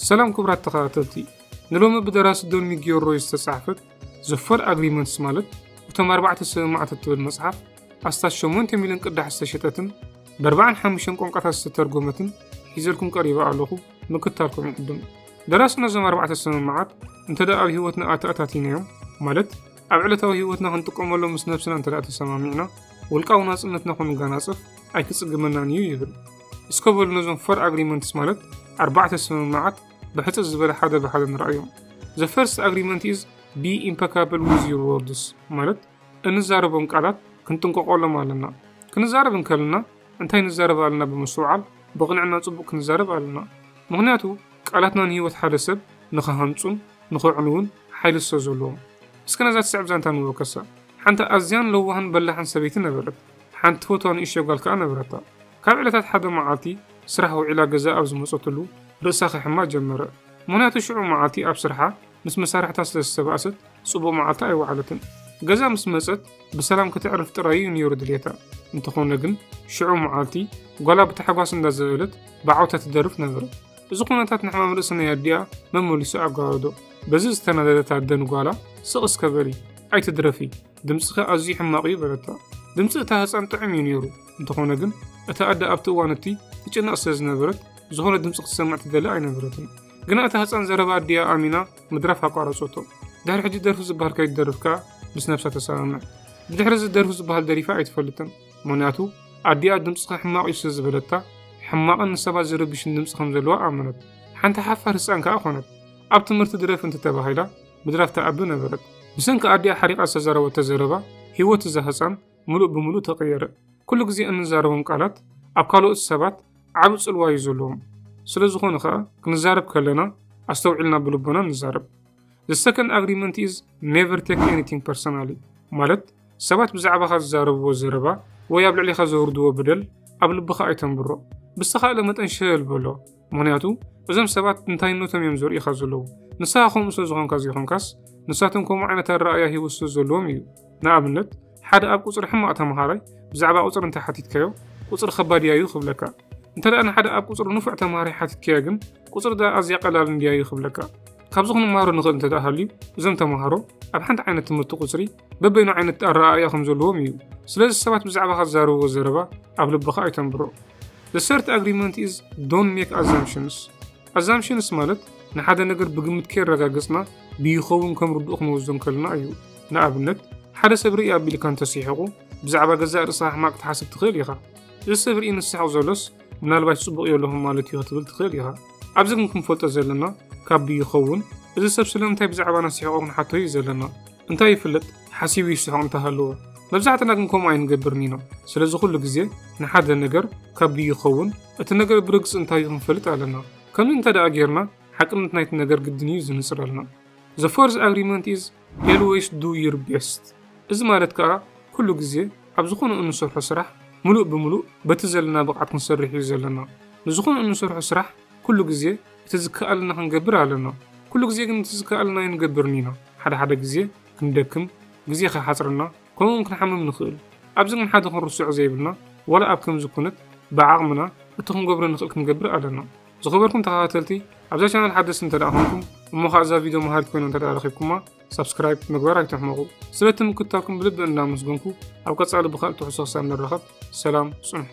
ሰላም ክቡራት ተኸታተልቲ፣ ንሎሚ ብደራሲ ዶን ሚጊዮል ሮይ ዝተጻሕፈት ዘ ፎር ኣግሪመንትስ ማለት እቶም ኣርባዕተ ስምምዓት እትብል መጽሓፍ ኣስታት ሸሞንተ ሚልዮን ቅዳሕ ዝተሸጠትን ብኣርባዓን ሓሙሽተን ቋንቋታት ዝተተርጎመትን ሒዘልኩም ቀሪበ ኣለኹ ምክታልኩም ይዕድም። ደራሲ ነዞም ኣርባዕተ ስምምዓት እንተ ደኣ ኣብ ህይወትና ኣተኣታቲናዮም ማለት ኣብ ዕለታዊ ህይወትና ክንጥቀመሎም ምስ ነብስና እንተ ደኣ ተሰማሚዕና ውልቃዊ ናጽነትና ክንጋናጽፍ ኣይክጽግመናን እዩ ይብል። እስከ በሉ ነዞም ፎር ኣግሪመንትስ ማለት ኣርባዕተ ስምምዓት ብሕፅር ዝበለ ሓደ ብሓደ ንረኣዮም። ዘ ፈርስት ኣግሪመንት ኢዝ ቢ ኢምፐካብል ዊዝ ዩር ወርድስ ማለት እንዛረቦም ቃላት ክንጥንቀቆሎም ኣለና። ክንዛረብ እንከለና እንታይ ንዛረብ ኣለና ብምስትውዓል ብቕንዕና ጽቡቕ ክንዛረብ ኣለና። ምክንያቱ ቃላትና ንህይወት ሓደ ሰብ ንኸሃንጹን ንኸዕንውን ሓይሊ ስለ ዘለዎም። እስከ ነዛ ትስዕብ ዛንታ ንወከሳ። ሓንቲ ኣዝያን ለዋህን በላሕን ሰበይቲ ነበረት። ሓንቲ ፍትዋ ንእሽቶ ጓል ከኣ ነበረታ። ካብ ዕለታት ሓደ መዓልቲ፣ ስራሕ ውዒላ ገዛ ኣብ ዝመጸትሉ፣ ርእሳ ኼሕማ ጀመረ። ምኽንያቱ ሽዑ መዓልቲ ኣብ ስርሓ ምስ መሳርሕታ ስለ ዝተባእሰት፣ ጽቡቕ መዓልታ ኣይወዓለትን። ገዛ ምስ መጸት፣ ብሰላም ከተዕርፍ ጥራይ'ዩ ነይሩ ድልየታ። እንተዀነ ግን፣ ሽዑ መዓልቲ፣ ጓላ ብታሕጓስ እንዳዘለለት ብዓውታ ትደርፍ ነበረት። እዚ ኵነታት ንሕማም ርእሲ ናይ ኣዲኣ መመሊሱ ኣጓበዶ። በዚ ዝተናደደት ኣደ ንጓላ፣ ስቕ እስከ በሊ! ኣይትድረፊ! ድምጽኺ ኣዝዩ ሕማቕ እዩ በለታ። ድምጺ እታ ህጻን ጥዑም እዩ ነይሩ፣ እንተኾነ ግን እታ ኣደ ኣብቲ እዋን እቲ ትጭነቕ ስለ ዝነበረት ዝኾነ ድምጺ ክትሰምዕ ትደሊ ኣይነበረትን። ግና እታ ህጻን ዘረባ ኣዲኣ ኣሚና ምድራፍ ኣቋረጸቶ። ድሕሪ ሕጂ ደርፊ ዝበሃል ከይትደርፍ ከኣ ምስ ነብሳ ተሰማምዕ። ብድሕሪ እዚ ደርፊ ዝበሃል ደሪፋ ኣይትፈልጥን፣ ምኽንያቱ ኣዲኣ ድምጽኺ ሕማቕ እዩ ስለ ዝበለታ ሕማቕን ንሰባት ዝርብሽን ድምጺ ከም ዘለዋ ኣመነት። ሓንቲ ሓፋር ህጻን ከኣ ኮነት። ኣብ ትምህርቲ ድረፊ እንተተባሂላ ምድራፍ ትዓቢ ነበረት። ብሰንኪ ኣዲኣ ሓሪቓ ዝተዛረበቶ ዘረባ ህይወት እዛ ህጻን ምሉእ ብምሉእ ተቐየረ። ኩሉ ግዜ እንዛረቦም ቃላት ኣብ ካልኦት ሰባት ዓቢ ጽልዋ እዩ ዘለዎም። ስለ ዝኾነ ከኣ ክንዛረብ ከለና ኣስተውዒልና ብልቦና ንዛረብ። The second agreement is never take anything personally ማለት ሰባት ብዛዕባኻ ዝዛረብዎ ዘረባ ወይ ኣብ ልዕሊኻ ዘውርድዎ በደል ኣብ ልብኻ ኣይተንብሮ። ብዝተኻእለ መጠን ሸለል በሎ። ምክንያቱ እዞም ሰባት እንታይነቶም እዮም ዘርእኻ ዘለዉ ንስኻ ከምኡ ስለ ዝኾንካ ዘይኮንካስ ንሳቶም ከምኡ ዓይነት ኣረኣእያ ሂወት ስለ ዘለዎም እዩ ንኣብነት ሓደ ኣብ ቁፅሪ ሕማቕ ተምሃራይ ብዛዕባ ቁፅሪ እንተሓቲትካዮ ቁፅሪ ከባድ እያ እዩ ክብለካ እንተ ደኣ ንሓደ ኣብ ቁፅሪ ንፉዕ ተምሃራይ ሓቲትካዮ ግን ቁፅሪ ደኣ ኣዝያ ቀላል እንድያ እዩ ክብለካ ካብዚ ክንምሃሮ ንኽእል እንተ ደኣ ሃልዩ እዞም ተምሃሮ ኣብ ሓንቲ ዓይነት ትምህርቲ ቁፅሪ በበይኑ ዓይነት ኣረኣእያ ከም ዘለዎም እዩ። ስለዚ ሰባት ብዛዕባኻ ዝዛረብዎ ዘረባ ኣብ ልብኻ ኣይተንብሮ። The third agreement is don't make assumptions. Assumptions ማለት ንሓደ ነገር ብግምት ከይረጋገጽና ብይኸውን ከም ርዱእ ክንወስዶ እንከለና እዩ። ንኣብነት ሓደ ሰብ ርኢ ኣቢልካ እንተሲሕቑ ብዛዕባ ገዛእ ርእስኻ ሕማቕ ትሓስብ ትኽእል ኢኻ። እዚ ሰብ ርኢ ንስሕቕ ዘሎስ ምናልባሽ ጽቡቕ የለኹም ማለት እዩ ክትብል ትኽእል ኢኻ። ኣብዚ ግን ክንፈልጦ ዘለና ካብ ብይኸውን እዚ ሰብ ስለምንታይ ብዛዕባና ሲሕቑ ክንሓቶ እዩ ዘለና። እንታይ ይፍለጥ ሓሲቡ ይስሕቕ እንተሃለወ መብዛሕትና ግን ከምኡ ኣይንገብርን ኢና ስለዚ ኩሉ ግዜ ንሓደ ነገር ካብዱ ይኸውን እቲ ነገር ብርግጽ እንታይ እዩ ክንፈልጥ ኣለና ከምዚ እንተ ደኣ ጌርና ሓቅነት ናይቲ ነገር ግድን እዩ ዝንጽረልና The fourth agreement is always do your best እዚ ማለት ከኣ ኩሉ ግዜ ኣብ ዝኾነ እንሰርሖ ስራሕ ምሉእ ብምሉእ በቲ ዘለና ብቕዓት ክንሰርሕ እዩ ዘለና ንዝኾነ እንሰርሖ ስራሕ ኩሉ ግዜ እቲ ዝከኣለና ክንገብር ኣለና ኩሉ ግዜ ግን እቲ ዝከኣለና ኣይንገብርን ኢና ሓደ ሓደ ግዜ ክንደክም ግዜ ክሓጽረና ከምኡ ውን ክንሓምም ንክእል ኣብዚ ግን ሓደ ክንርስዖ ዘይብልና ዋላ ኣብ ከምዚ ኩነት ብዓቅምና እቲ ክንገብሮ ንክእል ክንገብር ኣለና ዝኸበርኩም ተኸታተልቲ ኣብዛ ቻናል ሓደስቲ እንተ ኮንኩም እሞ ከዓ እዛ ቪድዮ መሃሪት ኮይና እንተ ረኺብኩማ ሳብስክራይብ ምግባር ኣይትሕመቑ ስለቲ ምክታልኩም ብልቢ እናመስገንኩ ኣብ ቀጻሊ ብካልእ ትሕሶ ክሳብ ንራኸብ ሰላም ጽንሑ